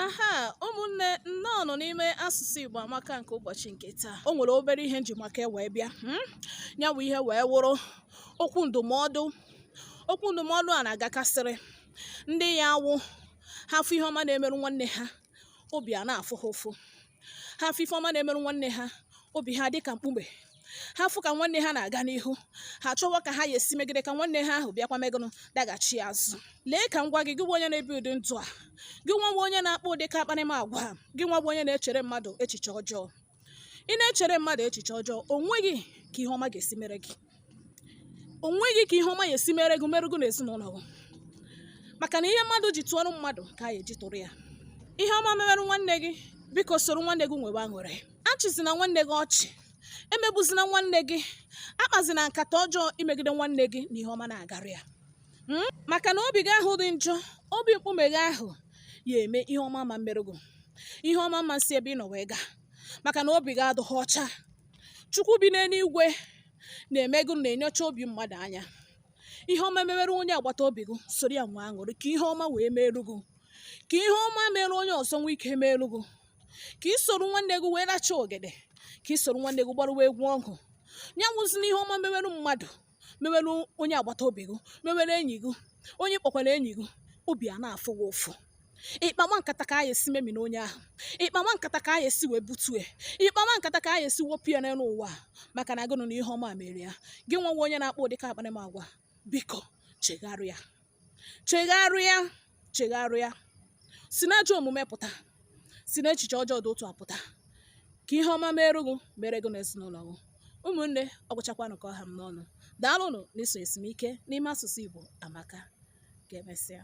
aha ụmụnne nnọọ nụ n'ime asụsụ Igbo amaka nke ụbọchị nke taa o nwere obere ihe m ji maka e wee bịa hmm? ya wụ ihe wee wụrụ okwu ndụmọdụ okwu ndụmọdụ a na-agakasịrị ndị ya awụ ha fụ ihe ọma na-emerụ nwanne ha obi a na-afụ ha ụfụ ha fụ ife ọma na-emerụ nwanne ha obi ha dịka mkpume ha fụ ka nwanne ha na-aga n'ihu ha chọwa ka ha ya esi megide ka nwanne ha ahụ bịakwa mee gụnụ daghachi azụ lee ka m gwa gị gị wụ onye na-ebi ụdị ndụ a gị nwa wụ onye na-akpa ụdị ka akparamagwa gị nwa wụ onye na-echere mmadụ echiche ọjọọ ị na-echere mmadụ echiche ọjọọ o nweghị ka ihe ọma ga-esi mere gị o nweghị ka ihe ọma ya esi mere gị merụ gụ na ezinụlọ gị maka na ihe mmadụ ji tụọrọ mmadụ ka a ya eji tụrụ ya ihe ọma mewerụ nwanne gị biko soro nwanne gị nwewe aṅụrị achịzina nwanne gị ọchị emegbuzina nwanne gị akpazina nkata ọjọọ imegide nwanne gị na ihe ọma na-agara ya hmm? maka na obi gị ahụ dị njọ obi mkpume gị ahụ ya eme ihe ọma ama emerụ gụ ihe ọma ama esi ebe ị nọ wee gaa maka na obi gị adịghị ọcha chukwu bi n'eluigwe na-eme gụnụ na-enyocha obi mmadụ anya ihe ọma mewere onye agbata obi gị soro ya nwee aṅụrị ka ihe ọma wee meelu gị ka ihe ọma mere onye ọzọ nwee ike meelu gị ka ị soro nwanne gị wee racha ogede ka ị soro nwanne gị gbarụwa egwu ọgụ ya nwụzi n'ihe ọma mewere mmadụ mewere onye agbata obi gị mewere enyi gị onye ị kpọkwara enyi gị obi a na-afụ gị ụfụ ị kpawa nkata ka a ya esi memina onye ahụ ị kpawa nkata ka a ya esi wee butue ị kpawa nkata ka a ya esi wepụ ya n'elu ụwa a, maka na gụnụ na ihe ọma mere ya gị nwa wụ onye na-akpa ụdị ka akparamagwa biko chegharịa chegharịa chegharịa si n'ajọ omume pụta si n'echiche ọjọọ dị otu a pụta ka ihe ọma meere gị mere gị na ezinụlọ gị ụmụnne ọ gwụchakwanụ ka ọ ha m n'ọnụ daalụnụ na iso esimike n'ime asụsụ Igbo amaka ka emesịa